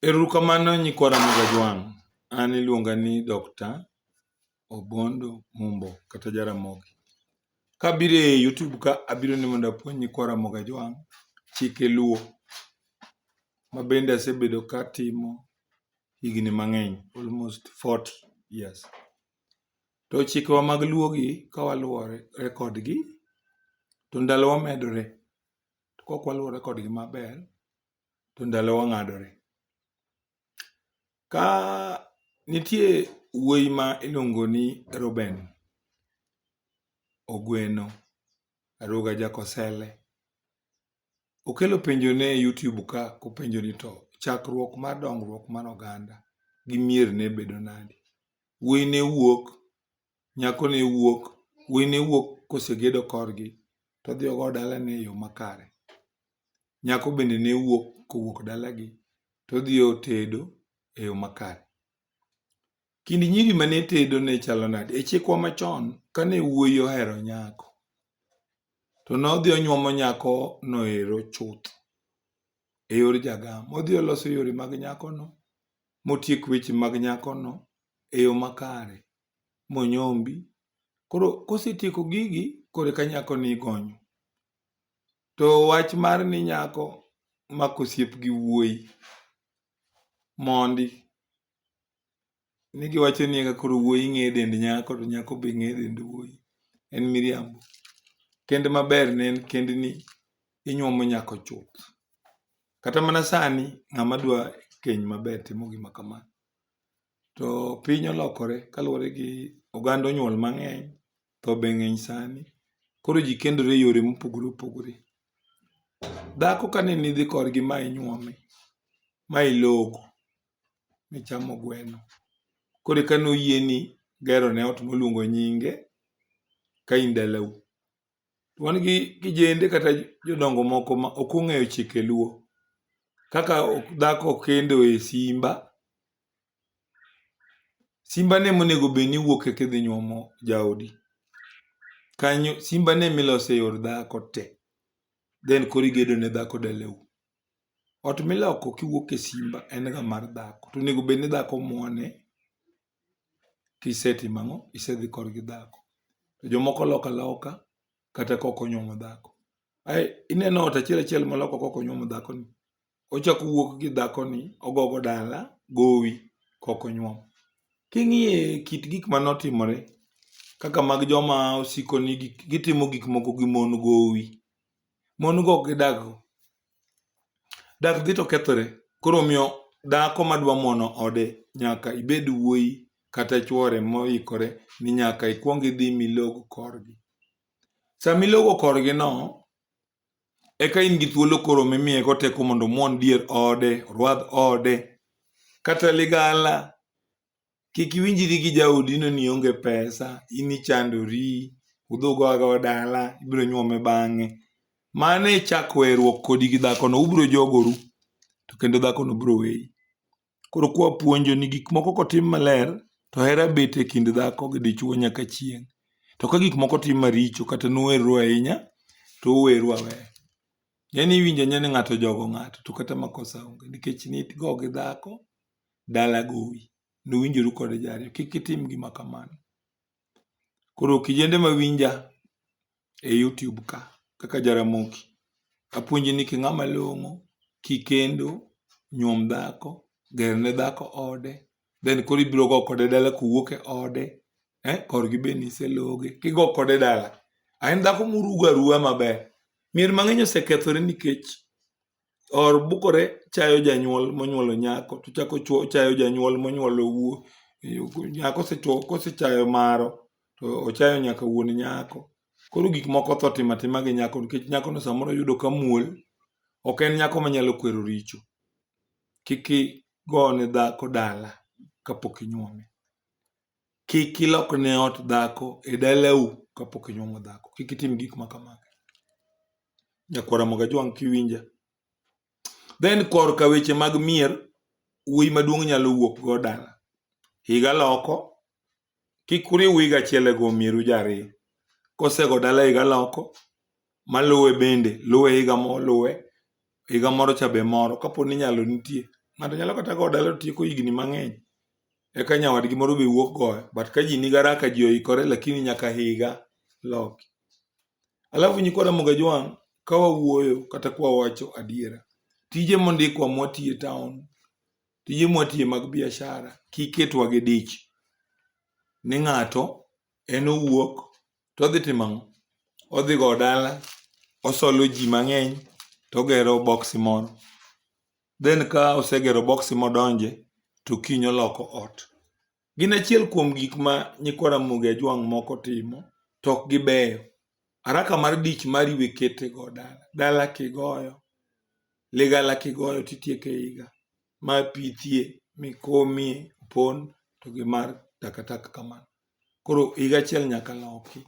Erokamano nyikwa Ramogi Ajwang'. An iluonga ni Dr. Obondo Mumbo kata Jaramogi. Kabiro e YouTube ka abiro ni mondo apuonj nyikwa Ramogi Ajwang' chike luo ma bende asebedo katimo higni mang'eny almost 40 years. To chikewa mag luogi kawaluwore kodgi to ndalowa medore To kok waluwore kodgi maber, to ndalowa ng'adore. Ka nitie wuoyi ma iluongo ni Reuben, Ogweno, Aruga Jakosele, okelo penjo ni e YouTube ka kopenjo ni to chakruok mar dongruok mar oganda gi mier ne bedo nade? Wuoyi ne wuok nyako ne wuok, wuoyi ne wuok kosegedo korgi to odhi ogowo dalane e yo makare. Nyako bende ne wuok kowuok dalagi to odhi otedo e yo makare. Kind nyiri mane tedo ne chalo nade? E chikwa machon, kane wuoyi ohero nyako to nodhi onyuomo nyakono ero chuth e yor jagam. Odhi oloso yore mag nyakono motiek weche mag nyakono e yo makare, monyombi. Koro kosetieko gigi, koro eka nyakoni igonyo. To wach mar ni nyako mako osiep gi wuoyi, mondi. Ni giwacho ni eka koro wuoyi ng'eyo dend nyako to nyako be ng'eyo dend wuoyi, en miriambo. Kend maber ne en kendni inyuomo nyako chuth. Kata mana sani ng'ama dwa keny maber timo gima kama. To piny olokore kaluwore gi oganda onyuol mang'eny, tho be ng'eny sani. Koro ji kendore e yore mopogore opogore. Dhako ka ne ni idhi kodgi ma inyuome, ma ilogo, michamo gweno, koro eka noyieni gerone ot moluongo nyinge ka in dalau. to wan gi kijende kata jodongo moko ma ok ong'eyo chike luo kaka dhako ok kendo e simba simba ne monego bed ni wuok eka idhi nyuomo jaodi kanyo simba ne milose yor dhako te then koro igedo ne dhako daleu ot miloko kiwuok e simba en ga mar dhako to onego bed ni dhako muone kisetimo ang'o? Isedhi korgi dhako. To jomoko loko aloka kata kok onyuomo dhako. Ae ineno ot achiel achiel moloko kok onyuomo dhakoni, ochako owuok gi dhakoni ogogo dala gowi kok onyuom. King'iye kit gik mane otimore kaka mag joma osiko ni gitimo gik moko gi mon gowi. mon go ok gidag go. Dak dhi to kethore. Koro omiyo dhako madwa mono ode nyaka ibed wuoyi kata chwore moikore ni nyaka ikwong idhi milog korgi. Sama ilogo korgi no, eka in gi thuolo koro mimiye go teko mondo omwon dier ode, orwadh ode, kata ligala kik iwinjri gi jaodi ni ne ionge pesa, in ichandori, udhogo adhoga dala, ibiro nyuome bang'e. Mano e chak weruok kodi gi dhakono, ubiro jogoru to kendo dhakono biro weyi. Koro kwa puonjo ni gik moko kotim maler to hera bet e kind dhako gi dichwo nyaka chieng'. To ka gik moko tim maricho kata nuwerru ahinya to uweru aweya. Ng'eni iwinjo nya ni ng'ato ojogo ng'ato to kata makosa onge nikech nidgo gi dhako dala gowi, nuwinjoru kode ji ariyo. Kik itim gima kamano. Koro kijende ma winja e YouTube ka, kaka Jaramogi, apuonji ni king'ama long'o, kikendo, nyuom dhako, ger ne dhako ode, then koro ibiro go kode dala kuwuok e ode, eh, korgi be niseloge, kigo kode dala. A en dhako murugo aruwa maber. Mier mang'eny osekethore nikech or bukore chayo janyuol monyuolo nyako to chako chayo janyuol monyuolo wuo nyako kosechayo maro to ochayo nyaka wuon nyako. Koro gik moko otho timo atima gi nyako nikech nyakono samoro oyudo ka muol ok en nyako manyalo kwero richo. Kik igone dhako dala kapok inyuome. Kik ilok ne ot dhako e dalau kapok inyuomo dhako. Kik itim gik ma kamago. Nyakwara Mogajwang' kiwinja. Then korka weche mag mier, wuoyi maduong' nyalo wuok go dala. Higa loko, kik uriw higa achiel e go mieru ja ariyo. Kosego dala higa loko, maluwe bende luwe higa moluwe, higa moro cha be moro kapo ni nyalo nitie. Ng'ato nyalo kata goyo dala to tieko higni mang'eny eka nyawadgi moro be wuok goyo but ka ji nigi haraka ji oikore lakini nyaka higa loki. Alafu nyikwa Ramogi Ajwang' ka wawuoyo kata ka wawacho adiera, tije mondikwa mwatiyo e taon, tije mwatiyo mag biashara kik ketwa gi dich ni ng'ato en owuok to odhi timo ang'o? Odhi go dala, osolo ji mang'eny to ogero boksi moro. Then ka osegero boksi modonje to kiny oloko ot. Gin achiel kuom gik ma nyikwa Ramogi Ajwang' moko timo to ok gibeyo. Araka mar dich mari we kete go dala. Dala kigoyo, ligala kigoyo titieko e iga. Ma pithie, mikomie, opon to gi mar takataka kamano. koro higa achiel nyaka loki.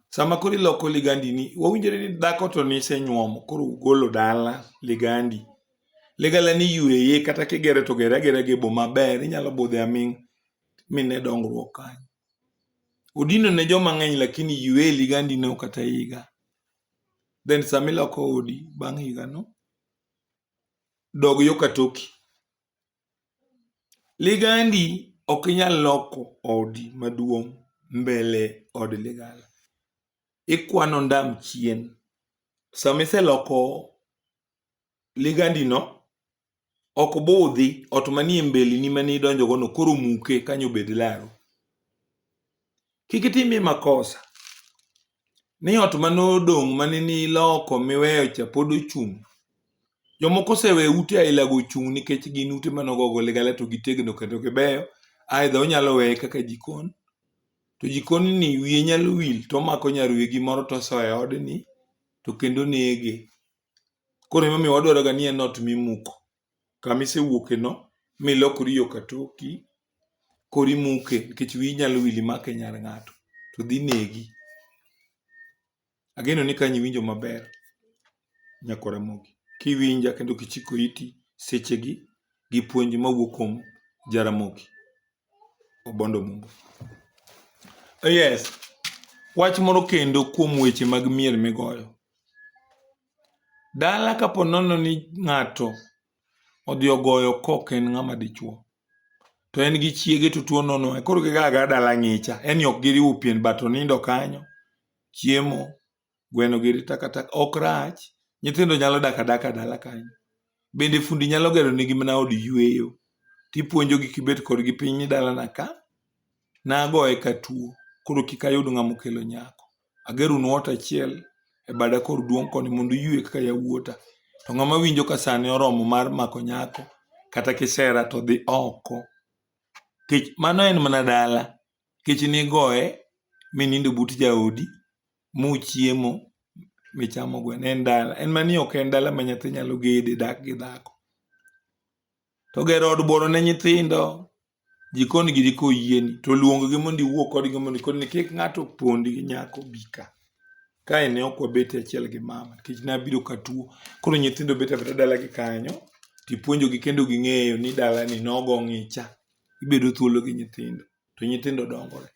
Sama koro iloko ligandi ni wawinjore ni dhako to nisenyuomo koro ugolo dala ligandi. Ligala ni yueye kata kigere to gere agera gi bo maber inyalo budhe aming mine dongruok kanyo. Odino ne joma ng'eny lakini yueye ligandi no kata higa. Then sama iloko odi bang' higa no dog yo katoki. Ligandi ok inyal loko odi maduong' mbele od ligala. Ikwano ondam chien. Sama iseloko ligandino, ok budhi ot manie mbeleni mane idonjogono koro muke kanyo obed laru. Kik itimie makosa ni ot mane odong' mane niloko miweyo cha pod ochung'. Jomoko osewe ute ailago ochung' nikech gin ute mane ogogo ligala to gitegno kendo gibeyo. Aidha onyalo weye kaka jikon. To jikon ni wiye nyalo wil to omako nyar wegi moro to osoyo e odni to kendo nege. Koro emomiyo wadwaroga ni en ot mimuko. kama isewuokeno milokori yo katoki, koro imuke nikech wiyi nyalo wil imake nyar ng'ato to dhi negi. Ageno ni kanyo iwinjo maber Nyako Ramogi. Kiwinja kendo kichiko iti sechegi gi puonj mawuok kuom Jaramogi Obondo Mumbo. Yes, wach moro kendo kuom weche mag miel migoyo. Dala kapo nono ni ng'ato odhi ogoyo kok en ng'ama dichuo to en gi chiege to tuo nono e koro gigaga dala ng'icha en ni ok giriwo pien but onindo kanyo chiemo gweno gi ri takataka ok rach nyithindo nyalo dak adaka dala kanyo bende fundi nyalo gero nigi mana od yweyo tipuonjogi kibet kodgi piny ni dalana ka nagoye katuo koro kik ayud ng'ama okelo nyako. Ageronu ot achiel e bada kor duong' koni mondo uyue kaka yawuota. To ng'ama winjo ka sani oromo mar mako nyako kata kisera to dhi oko. Kech mano en mana dala. Kech nigoye minindo but jaodi muchiemo michamo gweno en dala. En mani ok en dala ma nyathi nyalo gede dak gi dhako. To gero od bworo ne nyithindo jikon giri koyieni to luonggi mondo iwuo kodgi mondo ikoni ni kik ng'ato pondi gi nyako bika kae ne ok wabet e achiel gi mama nikech nabiro katuo koro nyithindo bet abeta dalagi kanyo tipuonjogi kendo ging'eyo ni dalani nogo ng'icha ibedo thuolo gi nyithindo to nyithindo dongore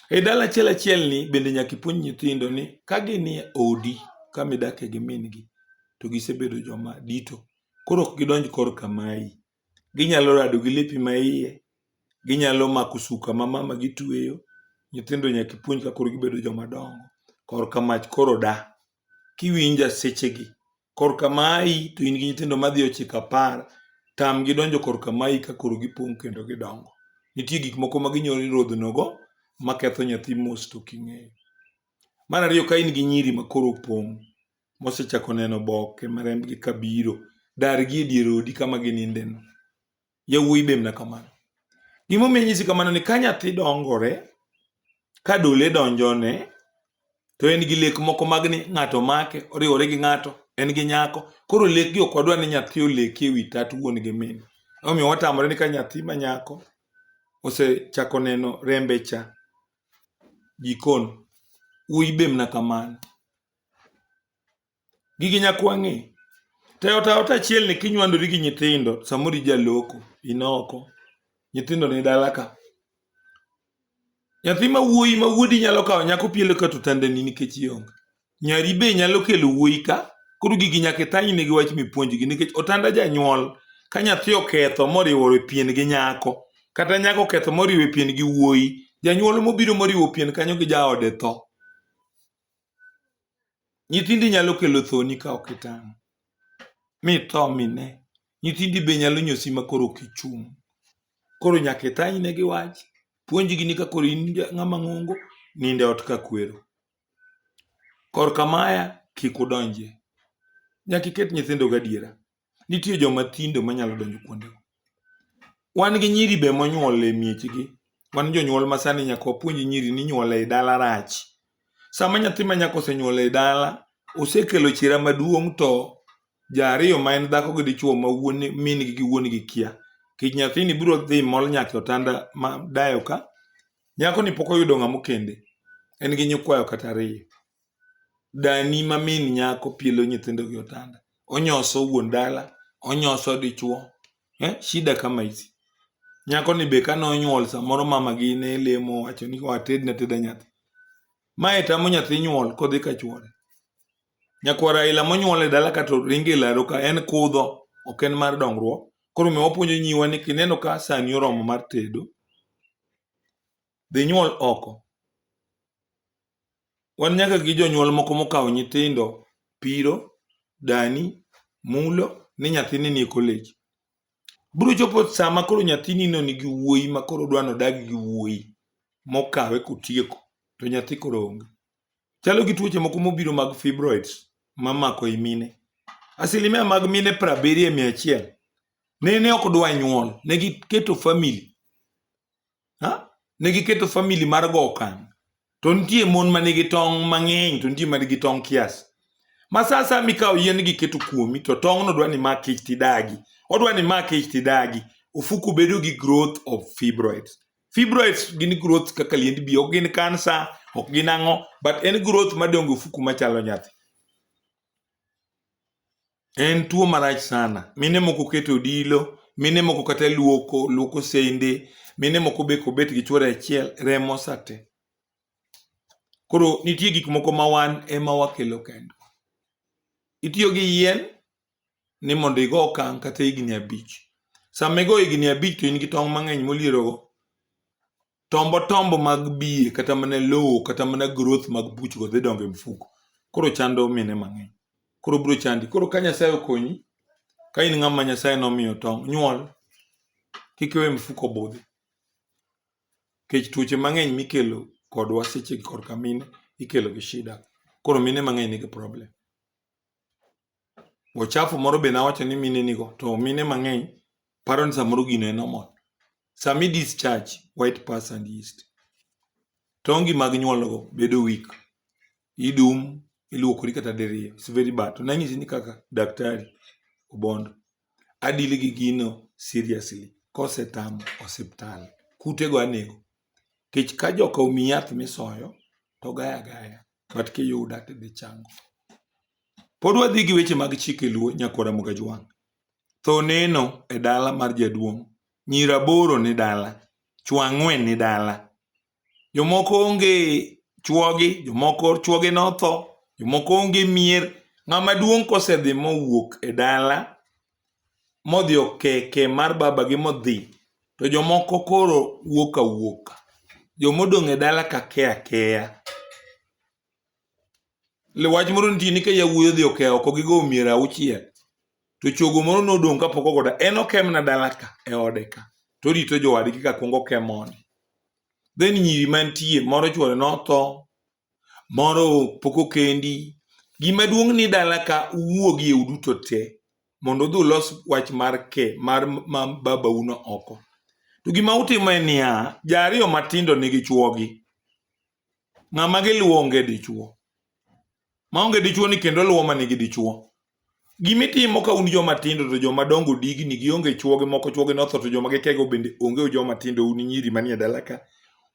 e dala achiel achiel ni bende nyaka ipuonj nyithindo ni ka ginie odi kama idakie gi min gi to gisebedo joma dito koro ok gidonj korka mayi Ginyalo rado gi lepi ma iye, ginyalo mako suka ma mama gi tweyo. Nyithindo nyaka ipuonj ka koro gibedo joma dongo. Korka mach koro da, kiwinja seche gi. Korka mayi to in gi nyithindo madhi ochiko apar, tam gi donjo korka mayi ka koro gipong' kendo gidongo. Nitie gik moko ma ginyalo nyodhono go ma ketho nyathi mos to ok ing'eyo. Marariyo ka in gi nyiri ma koro opong', mosechako neno oboke ma rembgi ka biro, dargi e dier odi kama ginindeno. Yawuoyi be mna kamano. Gimomiyo anyisi kamano ni ka nyathi dongore, ka dole donjone, to en gi lek moko mag ni ng'ato make, oriwore gi ng'ato, en gi nyako. Koro lekgi ok wadwa ni nyathi oleki e wi tat wuon gi min. Emomiyo watamore ni ka nyathi ma nyako osechako neno rembe cha, jikon, wuoyi be mna kamano. Gigi nyaka wang'e. To e ot aot achielni kinywandori gi nyithindo, samoro ija loko, in oko, nyithindo ni dala ka. Nyathi ma wuoyi ma wuodi nyalo kawo nyako pielo ka to tandani nikech ionge. Nyari be nyalo kelo wuoyi ka, koro gigi nyaka ithanyne gi wach mipuonjgi nikech otanda janyuol ka nyathi oketho moriwo e pien gi nyako, kata nyako oketho moriwo e pien gi wuoyi, janyuol mobiro moriwo pien kanyo gi jaode tho. Nyithindi nyalo kelo thoni ka ok itang', mi itho mi ine. Nyithindi be nyalo nyosi ma koro ok ichung'. Koro nyaka itang' ine gi wach, puonjgi ni ka koro in ng'ama ng'ongo, nind e ot ka kwero. Korka maya kik udonjie. Nyaka iket nyithindo gi adiera. Nitie joma tindo manyalo donjo kuondego. Wan gi nyiri be monyuol e miechgi. Wan jonyuol ma sani nyaka wapuonj nyiri ni nyuol ei dala rach. Sama nyathi ma nyako osenyuol ei dala, osekelo chira maduong' to ja ariyo ma en dhako gi dichuo ma wuon min gi gi wuon gi kia. Kech nyathini biro dhi mol nyaka e otanda ma dayo ka. Nyakoni pok oyudo ng'ama okende. En gi nyikwayo kata ariyo. dani ma min nyako pielo nyithindo gi otanda, onyoso wuon dala, onyoso dichuo. Eh, shida kama hizi. Nyako ni be kane onyuol samoro mama gi ne lemo wacho ni wated na teda nyathi. Mae tamo nyathi nyuol kodhi ka chuore. Nyakwar Raila monyuol e dala ka to ringe laro ka en kudho, ok en mar dongruok. Koro me wapuonjo nyiwa ni kineno ka sani oromo mar tedo, dhi nyuol oko. Wan nyaka gi jonyuol moko mokawo nyithindo piro, dani, mulo ni nyathini nie college. Biro chopo sama koro nyathinino nigi wuoyi ma koro odwa ni odag gi wuoyi mokawe kotieko to nyathi koro onge. Chalo gi tuoche moko mobiro mag fibroids mamako i mine. Asilimia mag mine prabiriyo e mia achiel nene ok dwa nyuol, ne giketo famili ha? ne giketo famili mar go okang to nitie mon ma nigi tong' mang'eny to nitie ma nigi tong' kias ma sa sa mikawo yien giketo kuomi to tong'no dwa ni mak ich tidagi odwa ni mak ich tidagi ofuku bedo gi growth of fibroids fibroids gin growth kaka liend bi ok gin kansa ok gin ang'o but en growth madongo ofuku machalo nyathi En tuo marach sana. Mine moko keto odilo, mine moko kata luoko, luoko sende, mine moko be kobet gi chuore achiel, remo sate. Koro nitie gik moko ma wan ema wakelo kendo. Itiyo gi yien ni mondo igo okang' kata higni abich. Sama igo higni abich to in gi tong' mang'eny molierogo, tombo tombo mag biye kata mana lowo kata mana growth mag buchgo dhi dongo e mfuko koro chando mine mang'eny koro biro chandi koro ka nyasaye okonyi ka in ng'ama nyasaye nomiyo tong' nyuol kik iwe mfuko budhi kech tuoche mang'eny mikelo kodwa seche korka mine ikelo gi shida koro mine mang'eny nigi problem Ochafu moro be nawacho ni mine nigo, to mine mang'eny paro ni samoro gino e normal. Sami discharge white pus and yeast, tongi mag nyuolgo bedo weak, idum, iluokori kata diriyo. It's very bad. To nanyisi ni kaka daktari Obondo, adili gi gino seriously. Kosetamo osiptal, kutego anego. Kech ka joka omi yath misoyo, to gaya gaya. But kiyuda tidhi chango. Pod wadhi gi weche mag chike luo nyakora Mugajwang'. Tho neno e dala mar jaduong'. Nyir aboro ni dala. Chwo ang'wen ni dala. Jomoko onge chwogi, jomoko chwogi notho, jomoko onge mier. Ng'ama duong' kosedhi mowuok e dala modhi okeke mar babagi modhi to jomoko koro wuok awuoka. Jomodong' e dala ka ke akeya. Wach moro nitie ni ka yawuoyi odhi oke oko gigo mier auchiel to chogo moro nodong' kapok ogoda en okemna dala ka e ode ka to orito jowadgi ka kwongo kemone then nyiri mantie moro chwore notho moro pok okendi gima duong' ni dala ka uwuogi e uduto te mondo udhi ulos wach mar ke mar ma babauno oko to gima utimo en niya ja ariyo matindo nigi chwogi ng'ama giluwo onge dichuo maonge dichuo ni kendo luwo ma nigi dichuo gimitimo ka un joma tindo to joma dongo digni gionge chuoge moko chuoge notho to joma gikego bende onge joma tindo un nyiri manie dala ka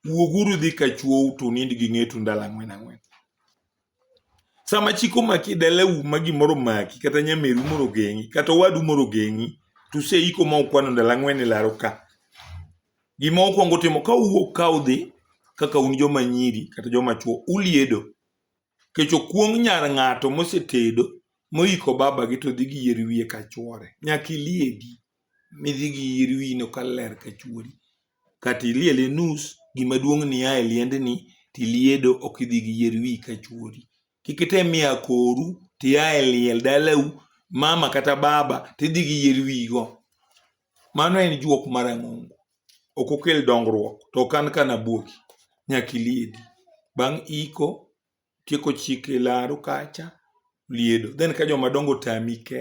wuoguru dhi ka chuou to unind gi ng'etu ndalo ang'wen ang'wen Sama chik omaki e dalau ma gimoro omaki kata nyameru moro ogeng'i kata owadu moro ogeng'i to useiko ma ukwano ndalo ang'wen e laro ka. Gima ukwongo timo ka uwuok ka udhi kaka un joma nyiri kata joma chwo uliedo. Kech okuong' nyar ng'ato mosetedo moiko babagi to dhi gi yeri wiye ka chwore. Nyaka iliedi. midhi gi yieri wino ka ler ka chuori. Kata iliele nus, gima duong' ni ia e liendni to iliedo ok idhi gi yier wiyi ka chuori. Kik item miyo akoru to ia e liel dalau, mama kata baba to idhi gi yier wiyi go. Mano en juok marang'ongo. Ok okel dongruok. To ok an ka nabuoki. Nyaka iliedi. Bang' iko, tieko chike laru kacha, liedo. Then ka joma dongo otami, ke.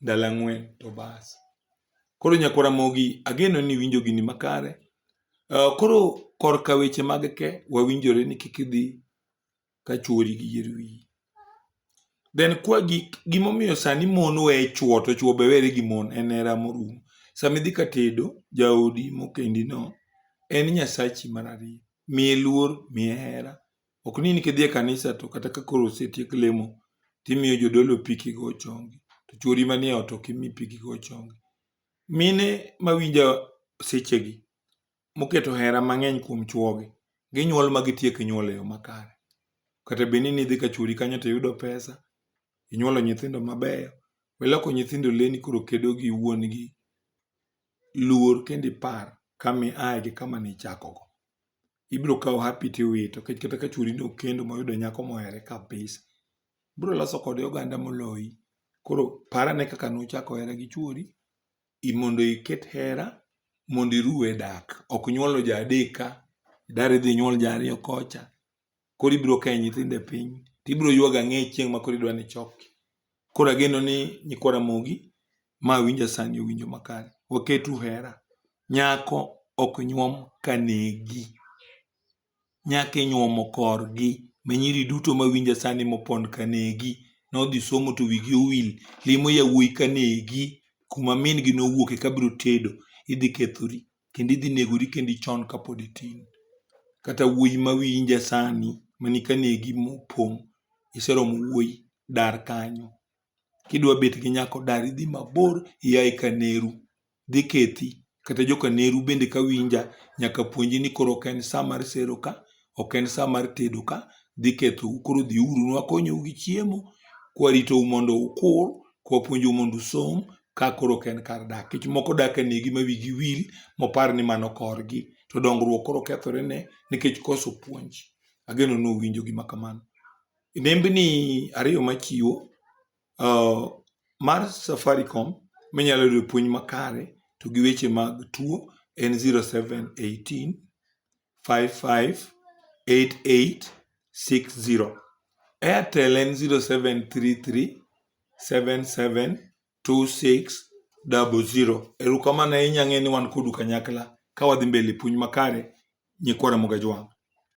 ndalo ang'wen to bas. Koro Nyako Ramogi ageno ni iwinjo gini makare. Uh, koro korka weche mag ke wawinjore ni kik idhi ka chuori gi yier wiyi. Then kwa gik gimomiyo sani mon weye chuo to chuo be were gi mon en hera morum. Sama idhi ka tedo jaodi mokendi no en nyasachi mar ariyo. Miye luor, miye hera, Ok ni nikidhi e kanisa to kata ka koro osetiek lemo timiyo jodolo pi kigo chongi to chwori manie ot ok imi pi kigo chongi. Mine mawinjo sechegi moketo hera mang'eny kuom chwogi ginyuol ma gitiek nyuol e yo makare. Kata bed ni nidhi ka chwori kanyo to iyudo pesa, inyuolo nyithindo mabeyo, iloko nyithindo leni koro kedo gi wuon gi luor kendo ipar kama iaye gi kama nichakogo. ibiro kawo hapi tiwito nikech kata ka chwori ne okendo moyudo nyako mohere kabisa, ibiro loso kode oganda moloyi. Koro par ane kaka nuchako hera gi chwori mondo iket hera mondo iruw e dak. Ok nyuolo ja adek ka, idar idhi inyuol ja ariyo kocha. koro ibiro kae nyithindo e piny to ibiro yuag ang'e chieng' ma koro idwa ni ichoki. Koro ageno ni nyikwa Ramogi ma winja sani owinjo makare. Waketu hera. Nyako ok nyuom ka negi. Nyako inyuomo korgi. Ma nyiri duto ma winja sani mopon ka negi. Nodhi somo to wigi owil. Limo yawuoyi ka negi. Kuma min gi nowuoke ka biro tedo. Idhi kethori. kendo idhi negori kendo ichon kapod itin. Kata wuoyi ma wiyi inja sani mani ka negi mopong' iseromo wuoyi dar kanyo. Kidwa bet gi nyako dar idhi mabor ia e kaneru, dhi kethi. Kata joka neru bende ka winja nyaka puonji ni koro ok en sa mar sero ka. ok en sa mar tedo ka dhi kethou koro dhiuru nwakonyou gi chiemo kwaritou mondo ukur kwapuonjou mondo usom ka koro ok en kar dak kech moko dak e negi ma wigi wil mopar ni mano korgi to dongruok koro kethore ne nikech koso puonj ageno ni uwinjo gima kamano e nembni ariyo machiwo uh, mar safaricom minyalo yudo puonj makare to gi weche mag tuo en 0718 558860. Airtel en 0733772600. Erokamano ahinya ang'e ni wan kodu kanyakla ka wadhi mbele puonj makare nyikwa Ramogi Ajwang'.